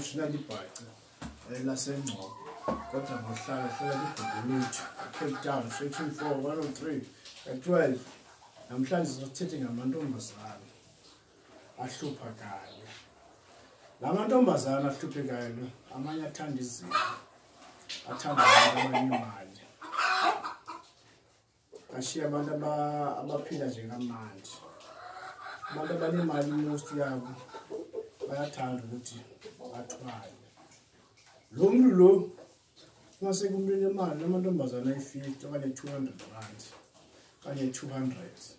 Ushila libhaca eh, lasengcobo kodwa ngohlala hlala libhubuluthu cape town straight to four one oh three ka-twelve namhlanje sothethe ngamantombazane ahlupha kanye la mantombazane ahluphe kanye amanye athanda izinto athanda abantu abanye imali Ashiya abantu abaphila nje kamanje. Abantu abanemali most yabo bayathanda ukuthi bathwale. Lo muntu lo mase kumlile imali amantombazana ayi-50 okanye 200 rand kanye 200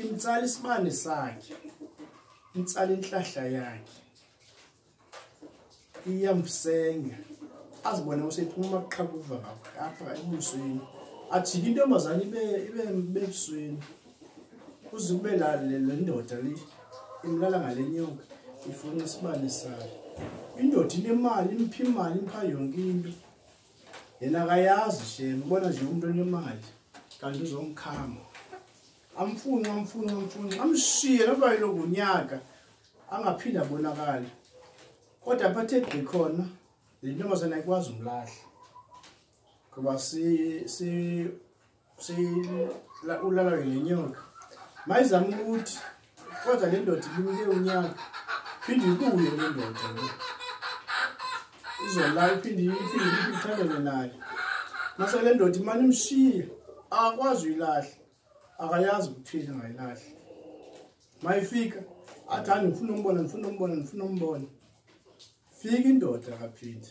Imtsala isibane sakhe. Imtsala inhlahla yakhe. Iyamsenga. Azibona usephuma ukuqhakuva ngapha emusweni. Ajike intombazane ibe ibe bebusweni. Uze kube la le ndoda le imlala ngalenyoka ifuna isibane sakhe. Indoda inemali, imphi imali, impha yonke into. yena akayazi shame ubona nje umuntu onemali kanti uzomkhama amfuni amfuni amfuni amshiye noba yiloku nyaka angaphinde abonakale kodwa bathe gqi khona le ntombazane ayikwazi umlahla ngoba si ulala ngenyoka mayizama ukuthi kodwa le ndoda ilimike unyaka phinde ibuye le ndoda izolala iphinde iphinde ithandane nayo mase le ndoda imane imshiye akwazi uyilahle akayazi ukuthini angayilahle mayifika athi hayi ndifuna umbona ndifuna umbona ndifuna umbona fika indoda kaphinde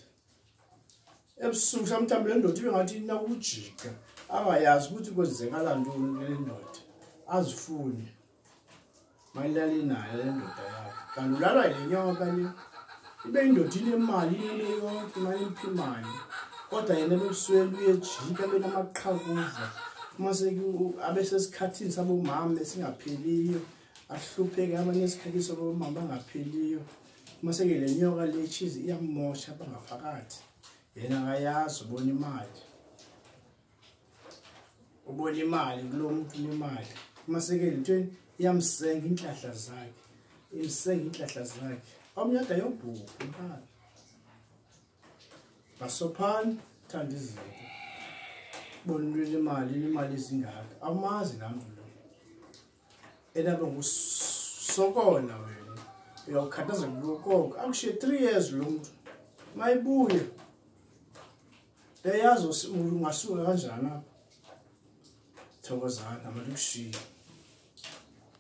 ebusuku samthambi le ndoda ibe ngathi inakujika angayazi ukuthi kwenzekala ntoni kule ndoda azifune mayilale nayo le ndoda yakho kanti ulalwa yile nyoka le ibe indoda inemali inele yonke imali emphimayo kodwa yena bebusweli uyejika benamaqhakuva uma abesesikhathini sabomama esingapheliyo ahlupheke abanye esikhathini sabomama bangapheliyo uma sengele nyoka le cheese iyamosha bangaphakathi yena akayazi ubona imali ubona imali kulo muntu imali uma sengele ntweni iyamsenga inhlahla zakhe imsenga inhlahla zakhe omnyada yobhuku imali basophani thanda izinto bona umuntu imali imali izingaka awumazi namntu enabe ngusokona wena uyawukhathaza kukonke akushiye three years lo muntu mayibuye eyazi ungasuka kanjani apha thokozana abantu kushiye